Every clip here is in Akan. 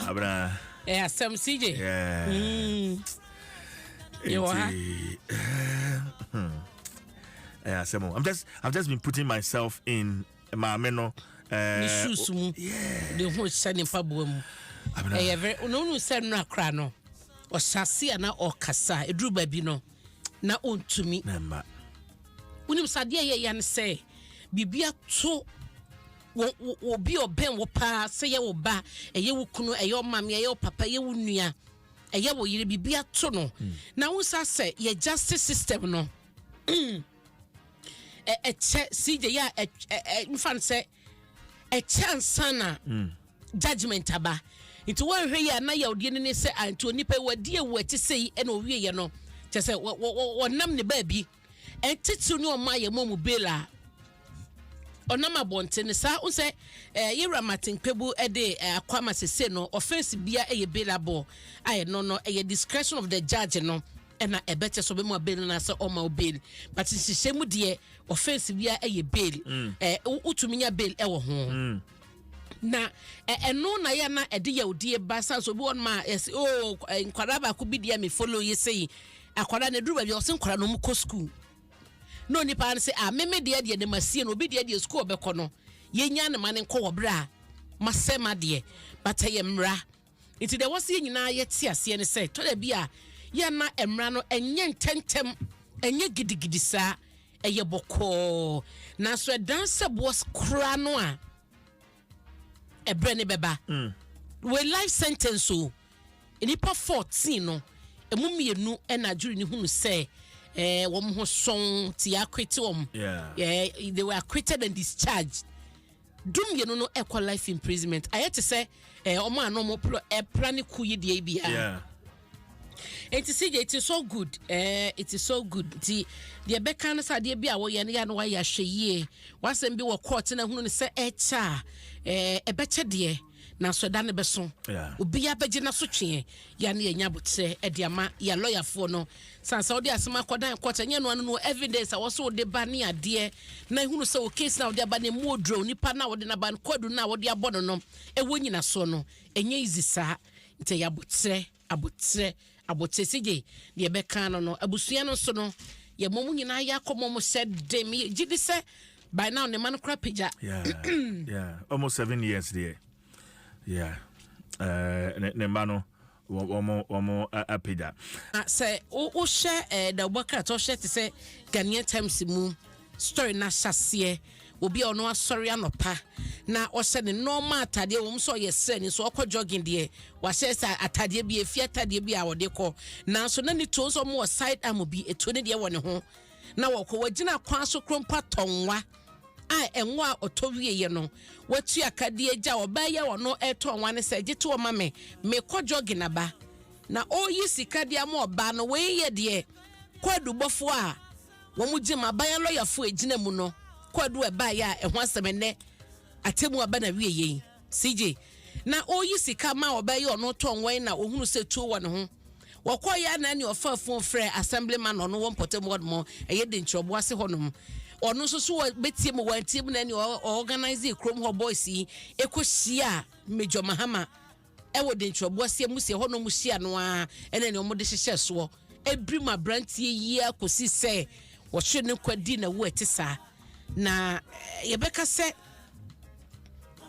abena ɛ eh, asɛm cj mm. yɛwɔ ha ɛ eh, asɛm i'm just i've just been putting myself in maame no eh, ne shoes mu de ho hyɛ ne mpaboa mu ɛyɛ eh, very na ɔnu sɛ nnora kora no ɔhyɛ ase a na ɔkasa ɛduru baabi no na ɔntumi wonim sɛ adeɛ yɛ ya no sɛ biribi ato Wo, wo, wo obi ɔbɛn wo paa, sɛ yɛ wo ba, ɛyɛ wo kunu, ɛyɛ ɔmaame, ɛyɛ wo papa, ɛyɛ wo nua, ɛyɛ wo yere, biribi ato no. Hmm. Na wo nsa sɛ yɛ justice system no. ɛkyɛ sigye yɛ a mfa no sɛ ɛkyɛ ansa na hmm. judgment aba nti wɔnhwɛ yɛ a na yɛ ɔdeɛ no ne sɛ anti onipa yi wɔadi ɛwɔ ɛte sɛ yi ɛna ɔwieɛ no kyɛ sɛ wɔnam ne baabi Ɛntitiriw ne ɔma a yɛmmɔ mu bela a ɔnam abɔnten no saa nsɛ ɛɛ yɛwura Martin Kpebu ɛde ɛɛ akwa ma sese no offense bia ɛyɛ bela bɔ a ɛno no ɛyɛ discretion of the judge no ɛna ɛbɛkyɛ so bɛma bail na sɛ ɔma wo bail but nhyehyɛ mu deɛ offense bia ɛyɛ bail ɛɛ wotumi nya bail ɛwɔ ho. na ɛno na yɛ na ɛde yawdie ba sa so obi wɔn ma yɛsi o oh, nkwadaa baako bi deɛ mi follow yi sɛ yi akwadaa na eduru baabi ɔsi nkwadaa na wɔn kɔ sukuu na onipa no sɛ a ah, meme deɛ deɛ ne ma sie no obi deɛ deɛ sukuu ɔbɛkɔ no yɛnya ne ma ne nkɔ wɔ berɛ a masɛ ma deɛ bata yɛ mmara Nti deɛ ɛwɔ sɛ yɛn nyinaa yɛte aseɛ ne sɛ tɔ da bi a yɛmma mmara no ɛnyɛ ntɛntɛm ɛnyɛ gidigidi saa ɛyɛ bɔkɔɔ nanso ɛdan sɛ boɔ koraa no a ɛberɛ ne bɛba mm. wei life sentence o nnipa 14 no ɛmu mmienu ɛna adwiri ne hunu sɛ eh, wɔn ho sɔn ti akwete wɔn yeah. eh, they were acquitted and discharged du mmienu no ɛkɔ life imprisonment ayɛ te sɛ ɛɛ eh, ɔmo a na ɔmo plo ɛpra ne ku yi deɛ yi bia. Yeah. nti si it is so good ɛɛ eh, it is so good nti deɛ bɛka no sɛ adeɛ bi a wɔyɛ no yɛ no wayɛ ahwɛ yie wasɛm bi wɔ court na hunu no sɛ ɛkyɛ a ɛɛ eh, ɛbɛkyɛ deɛ. Nanso ɛda no bɛso, obiara bɛgye n'asotweɛ. Yɛa ne yɛanya aboterɛ de ama yɛa lɔyafoɔ no. Sane sɛ wode asem akɔdan court a, ɛnyɛ ɛno ano no evidence a ɛwɔ sɛ wode ba ne adeɛ na ɛhunu sɛ wo case no a wode aba no ɛmu oduro a onipa no a wode no aba no, kwadu no a wode abɔ no no, ɛwɔ nyinasoɔ no. Ɛnyɛ easy saa. Nti ɛyɛ aboterɛ. Aboterɛ, aboterɛ si gye deɛ ɛbɛka ano no. Abusua no nso no, yɛma wɔn nyinaa yɛ akɔmmɔ mu hyɛ den. Megye di sɛ by now ne mma no kora pagya. Almost seven years deɛ. Yeah. Uh, ne, ne mma no wɔn wɔn apagya. Na sɛ wohyɛ ɛɛ eh, da wobɔ krataa ɔhyɛ te sɛ Ghanaian Times mu story na ahyɛseɛ. Obi a ɔno asɔre anɔpa na ɔhyɛ ne nɔɔma atadeɛ wɔn sɛ ɔyɛ srɛni nso ɔkɔ jogging deɛ wahyɛ sɛ atadeɛ bi efi atadeɛ bi a ɔde kɔ nanso na ne tuo nso wɔn wɔ side arm bi etuo ne deɛ wɔ ne ho na wɔkɔ wɔgyina kwan so kuro mpo atɔ nwa a ɛnwa a ɔtɔ wie yɛ no watu akadeɛ gya ɔbaa yɛ ɔno ɛtɔ nwa ne sɛ gye to ɔma me mekɔ jogging aba na ɔyi sika deɛ ama ɔbaa no wɔyɛ deɛ kɔ adubɔfoɔ a. Wɔgye ma aban alɔyafo a egyina mu no kwaadu a ɛbaeɛ a ɛho asɛm ɛnɛ atemu aba na wie yei. CJ na ɔreyi sika ma ɔbɛyɛ ɔno tɔn wɔn na ɔhunu sɛ tuo wɔ ne ho. Wɔkɔeɛ na ɛne ɔfaa fon frɛ assemblyman a ɔno wɔ mpɔtam hɔnom ɛyɛ de nkyerɛboɔ ase hɔnom. Ɔno nso so bɛtie mu wɔantie mu na ɛne ɔorganise kurom hɔ boys yi ɛkɔhyia Major Mahama. Ɛwɔ den twerɛboaseɛ mu sɛ ɛhɔ na wɔhyia no ara ɛne nea wɔde hyehyɛɛ soɔ ɛbirim aberanteɛ yi ara kɔsi sɛ wɔhwere ne nkwa di na wu ɛte saa na yɛbɛka sɛ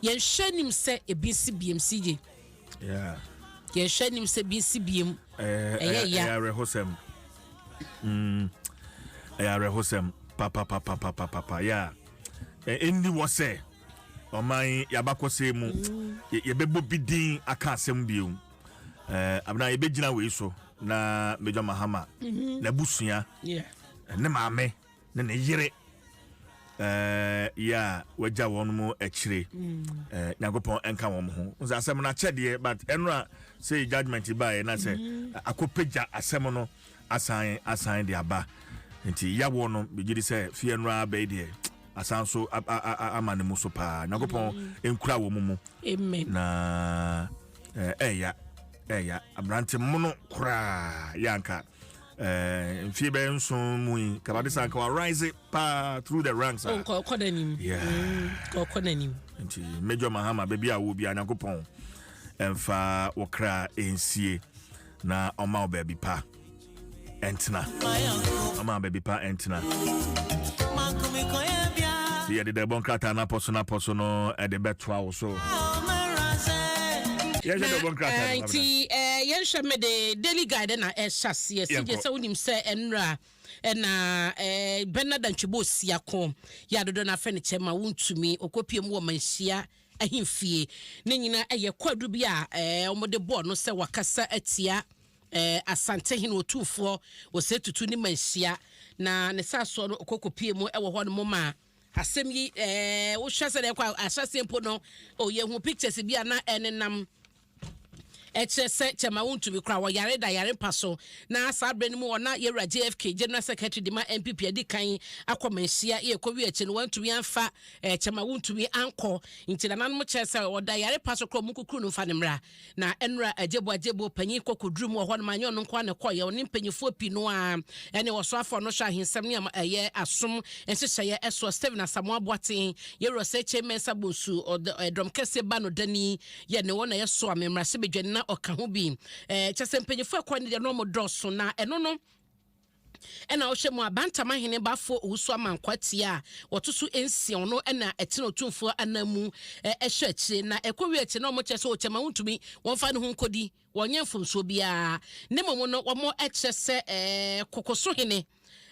yɛnhwɛ anim sɛ ebi nsi biem si gye yɛnhwɛ anim sɛ ebi nsi biem ɛyɛ ya ɛyɛ awerɛhosɛm ɛyɛ awerɛhosɛm papapapapapapa yɛ a ɛndi wɔ sɛ ɔman yɛabakɔsɛe mu yɛbɛbɔ bi din aka asɛm bio eh, abena yɛbɛgyina wei so na major mahama mhm. n'abusua ne maame ne ne yere eh, yɛ a wagya wɔn mu akyire mm. eh, nyankopɔn ɛnka wɔn ho sɛ asɛm no akyɛdeɛ but ɛno a sɛ judgment baeɛ na sɛ mhm. akɔpagya asɛm no asan asan de aba nti yɛawoɔ no megye di sɛ fie no ara bɛyi deɛ asan so ama ne mu so paa nyankopɔn nkura wɔ mu mu na ɛya ɛya aberante mono koraa yɛ anka mfie bɛyɛ nson mu yi kabade sa nka warise paa through the ranks nkɔkɔ n'anim nkɔkɔ n'anim nti major mahama baabi a wo biara nyankopɔn ɛmfa wɔkra ɛnsie na ɔma wo baabi pa ɛntena ɔma baabi pa ɛntena sɛ yɛde dɛ bɔ nkrataa no apɔ so no apɔ so no ɛde bɛtoa wo so yɛhwɛ dɛ bɔ nkrataa no nti yɛnhwɛ me de daily guide na ɛhyɛ aseɛ sɛ gye sɛ wonim sɛ ɛnra ɛna bɛna dantwebɔ ɔsia ko yɛ adodɔ no afɛ no kyɛ ma wontumi ɔkɔpie mu wɔ manhyia ahemfie. Ne nyinaa yɛ kwaadu bi a wɔde bɔɔ no sɛ wakasa atia Asantehene Otumfoɔ Osei Tutu ne Manhyia, na ne saasoɔ no ɔkɔ kɔpie mu wɔ hɔ nom a asɛm yi wohwɛ sɛ ɛkɔ ahyɛseɛ mpo no, yɛhu pictures bi a na ɛnenam Ɛkyerɛ sɛ kyɛma wontumi kora wɔyare da yare mpa so. Na saa berɛ no mu hɔ na yɛwura JFK General Secretary de ma NPP adi kan akɔ manhyia yɛ ɛkɔ wie akyi no wantumi amfa kyɛma wontumi ankɔ nti nananom kyerɛ sɛ ɔda yare pa so kora ɔmo nkukuru no mfa ne mmra na ɛnura agyebo agyebo panyin kɔkɔ duru mu wɔ hɔ no ma nyɛ ɔno nko na kɔyɛ ɔne mpanyifoɔ pii no a ɛne ɔsoafoɔ no hwɛ ahensɛm ne ɛyɛ asom nhyehyɛeɛ ɛsoɔ Stephen Asamoah Boateng yɛwura sɛ Chairman Sabonsu ɔdɔm kɛseɛ ba no dani Yɛ ne wɔn a yɛ so a me mmara se bɛ dwane na ɔka ho bi. Ɛɛ kyɛ sɛ mpanyinfo ɛkɔ ne deɛ na wɔn dɔɔso na ɛno no ɛna ɔhwɛ mu a Bantam ahene bafoɔ Owusu Amankwaa Tia a wɔto so nsia ɔno ɛna ɛtena otumfoɔ anan mu ɛhwɛ akyire na ɛkɔ wie akyire na wɔn kyɛ sɛ ɔkyɛma wontumi wɔn fa ne ho nkɔdi Wɔnyɛ mfomsoɔ biara, na mmom no wɔkyerɛ sɛ kokoso hene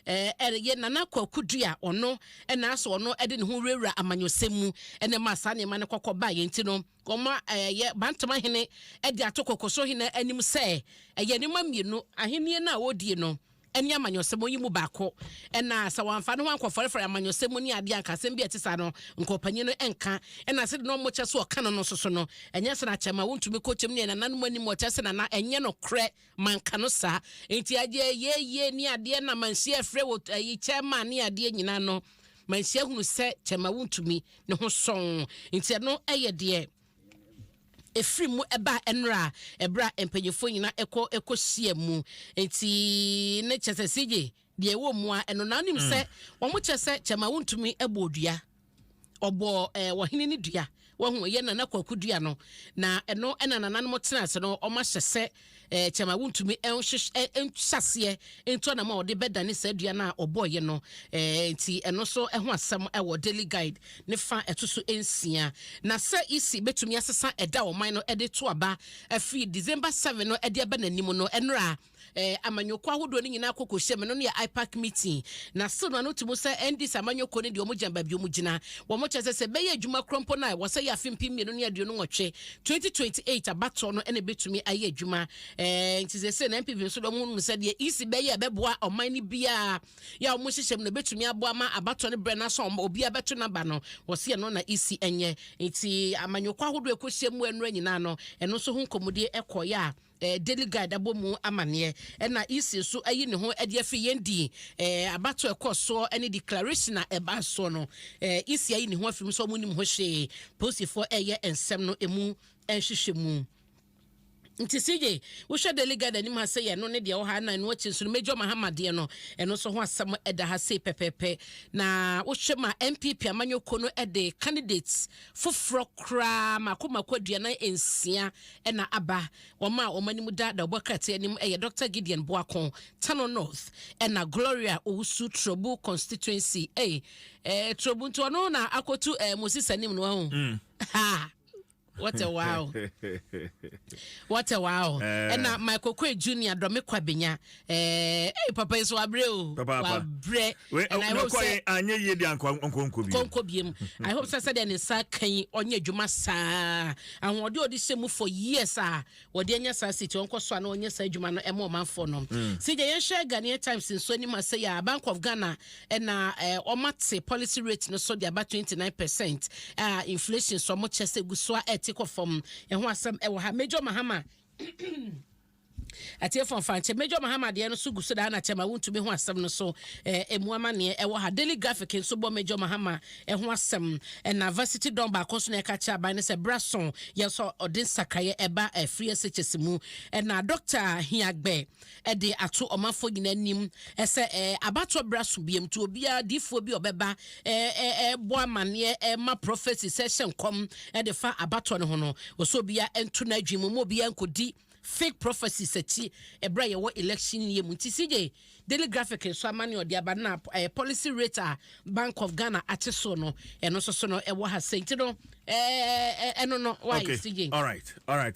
yɛ Nana Kwaku Dua, ɔno na asɔ ɔno de ne ho wurawura amanyɔsɛm mu na ɛma saa nneɛma no kɔkɔ baa yɛn ti no. Wɔayɛ Bantama hene de ato kokoso hene anim sɛ ɛyɛ nneɛma mmienu, ahennie no a ɔredie no, ne amanyɔsɛm yi mu baako, ɛna sɛ wɔamfa ne ho ankɔfɔrefɔre amanyɔsɛm mu ne adeɛ a, anka asɛm bi a ɛte saa no, anka ɔpanyin no nka. Ɛna sɛdeɛ na wɔkyɛ sɛ ɔka no no nso so no, ɛnyɛ sɛ na kyɛ ma wontumi kɔ kyɛm ne ɛnananom anim, wɔkyɛ sɛ na na ɛnyɛ nokorɛ ma anka no saa. Enti adeɛ yɛ yie ne adeɛ na Manhyia afrɛ wɔ ayi kyɛ ma ne adeɛ nyinaa no, Manhyia hunu sɛ kyɛ ma wontumi ne ho sɔn. Enti ɛno yɛ deɛ. Ɛfiri mu baa ɛnora ɛberɛ a mpanyinfoɔ nyinaa kɔ kɔ hyia mu nti ne kyɛ sɛ CJ deɛ ɛwɔ mu a ɛno na nim sɛ mm. wɔn kyɛ sɛ kyɛma wontumi bɔ odua ɔbɔ ɛɛ eh, wɔhene ne dua wɔn ho yɛ nana kwaku dua no na ɛno ɛna nananom tena ase no wɔn ahyɛ sɛ Ɛɛ, kyɛ ma wontumi nhwehwɛ, nhyɛ aseɛ ntu anam a wɔde bɛdane saa dua no a wɔbɔeɛ no. Ɛɛ, nti ɛno nso ho asɛm wɔ Daily Guide ne fa a ɛto so nsia. Na sɛ EC bɛtumi asesa ɛda a ɔman no de to aba firi December seven no de aba n'anim no, ɛnora a ɛɛ, amanyɔkuo ahodoɔ no nyinaa akɔ kɔhyia mu. Ɛno no yɛ IPAC meeting. Na still no ano to mu sɛ NDC amanyɔkuo no deɛ wɔgyina baabi a wɔgyina. Wɔkyerɛ sɛ sɛ ɛbɛyɛ adwuma korɔ mpo no a, ɛwɔ sɛ ɛyɛ afe mpem mmienu ne aduonu nwɔtwe Twenty twenty eight abatoɔ no ɛna ebetumi ayɛ adwuma ɛɛ eh, nti sese na npp nso dɔm hu sɛ deɛ ec bɛyɛ ɛbɛboa ɔman no biara yɛ a wɔn hyehyɛ mu na ebetumi aboa ma abatoɔ no brɛ n'asɔn ɔmo obiara bɛto naba no wɔsi ɛno na ec ɛnyɛ nti amanyɔkɔ ahodoɔ ɛkɔ hyɛ mu ɛnura nyinaa no ɛno nso ho nkɔmɔdie ɛkɔyɛ a. Daily Guide abɔ mu amanneɛ, ɛna EC nso ayi ne ho de afi yɛn di abatoɔ a ɛkɔɔ soɔ ne declaration a ɛbaa soɔ no. EC ayi ne ho afi mu sɛ wɔnnim ho hwee. Polisifoɔ reyɛ nsɛm no mu nhwehwɛmu. Nti CJ, wohwɛ Daily Guide anim ha sɛ yɛ ɛno ne deɛ ɛwɔ ha, na ɛno akyi nso no Major Mahama deɛ no, ɛno nso ho asɛm da ha sei pɛpɛɛpɛ. Na wohwɛ ma NPP amanyɔkuo no de candidates foforɔ koraa mmaako mmaako aduanan nsia na aba. Wɔn a wɔn anim da dawubɔ krataa anim yɛ Dɔkta Gideon Boako, Tano North, ɛna Gloria Owusu, Turobu Constituency. Ei, eh, Turobu nti ɔno na akɔtu eh, Moses anim no ho. Mm. Ha! What a wow. What a wow. Eh. Ɛna Michael Kwe Junior, Dɔmekwa Benya, Eh, hey, papa yi so wabrɛ o wabrɛ and i hope sɛ anyɛ yie de ankɔnkɔ biem kɔnkɔ biem i hope sɛ sɛdeɛ ne nsa ka yi ɔnyɛ adwuma saa ahoɔden ɔde hyɛ mu for years a wɔde anya saa siti ɔnkɔ so a na ɔnyɛ saa adwuma no ɛma ɔmanfoɔ no si deɛ yɛnhwɛ Ghanaian Times nso anim a sɛ yɛ Bank of Ghana ɛna ɔmate policy rate no so de aba 29 percent a inflation so ɔmo kyɛ sɛ gu so a ɛte kɔ fam ɛho asɛm ɛwɔ ha Major Mahama Atiefo afa nkyɛ, Major Mahama deɛ no so gu so daa na kyɛma wontumi ho asɛm no so eh, emu amaneɛ ɛwɔ ha. Daily Graphic nso bɔ Major Mahama eh, ho asɛm eh, na Varsity Don baako nso na ɛka kyerɛ aban no sɛ bra so yɛ sɔ ɔde nsakraeɛ ɛba eh, free SHS mu eh, na Dɔkta Hiagbɛ eh, de ato ɔmanfoɔ nyinaa anim eh, sɛ eh, abatoɔ bra so biam nti obiara diifoɔ bi ɔbɛba eh, eh, eh, bɔ amaneɛ eh, ma prophecy sɛ hyɛ nkɔm eh, de fa abatoɔ no ho no wɔsɛ obiara nto n'adwene mu ma obiara nkɔdi Fake prophecies akyi ɛberɛ a yɛwɔ election year mu nti CJ Daily Graphic nso amane a ɔde aba no na ɛɛ policy rate a Bank of Ghana ate so no ɛno nso so no ɛwɔ ha sɛ nti no ɛɛ ɛno no why okay. CJ. All right. All right.